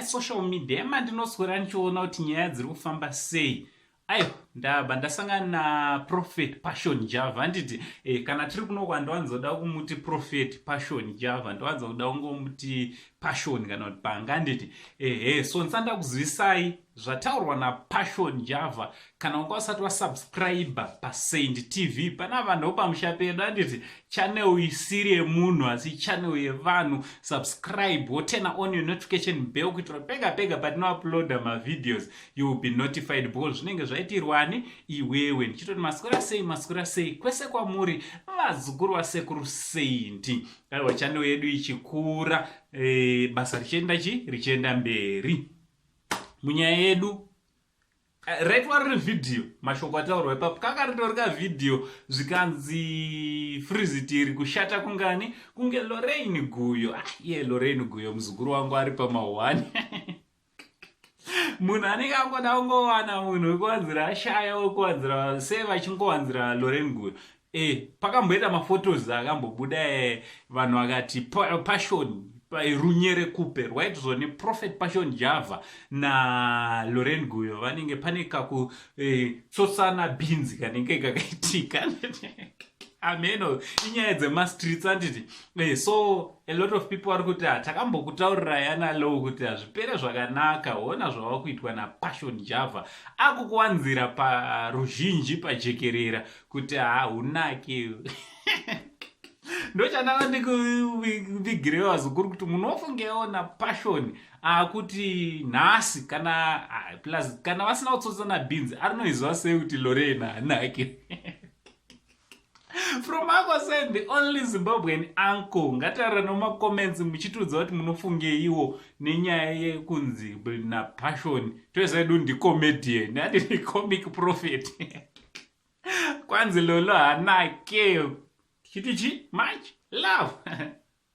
social media emandinoswera ndichiona kuti nyaya dziri kufamba sei aiwa ndabva ndasangana naprofet passion java handiti e, kana tiri kuno kwandiwanzoda kumuti profet passion java ndiwanzoda kungomuti passion kana kuti panga handiti ehe so ndisanda kuzivisai zvataurwa napassion java kana wanga usati wasubscribe pasaint tv pana vanhu pamusha pedu anditi channel isiri yemunhu asi channel yevanhu subscribe wotena on your notification bell kuitira pega pega patinouploada mavideos you will be notified because zvinenge zvaitirwani iwewe ndichitoti maswera sei maswera sei kwese kwamuri vazukuru vasekuru sainti aiwa channel yedu ichikura e, basa richienda chi richienda mberi munyaya yedu right wari revhidhiyo mashoko ataurwa ipapo kaka ritori kavhidhiyo zvikanzi frizitiri kushata kungani kunge loreini guyo ah, iye loreini guyo muzukuru wangu ari pamahwani munhu anenge angoda kungowana munhu wekuwanzira ashaya wekuwanzira se vachingowanzira loreini guyo Eh, pakamboita maphotos akambobuda eh, vanhu vakati pa, passion runyere kupe rwaitizwa neprofet passion java naloren guyo vanenge pane kakutsotsana eh, bhinzi kanenge kakaitika ameno inyaya dzemastreets anditi eh, so a lot of people vari kuti ah, takambokutaurirai analow kuti hazvipere zvakanaka hona zvava kuitwa napassion java akukuwanzira paruzhinji pajekerera kuti haunaki ndochandanga ndikuvigirewo vazukuru kuti munofungeona passion akuti ah, nhasi kana ah, plus kana vasina kutsotsa nabeans arinoiziva sei kuti lorena hanake from ako said the only zimbabwean uncle ngataura nomacomments muchitiudza kuti munofungeiwo nenyaya yekunzi napassion toesaedu ndicomedian ati ndicomic prophet kwanzi lolo hanake tichiti chi much love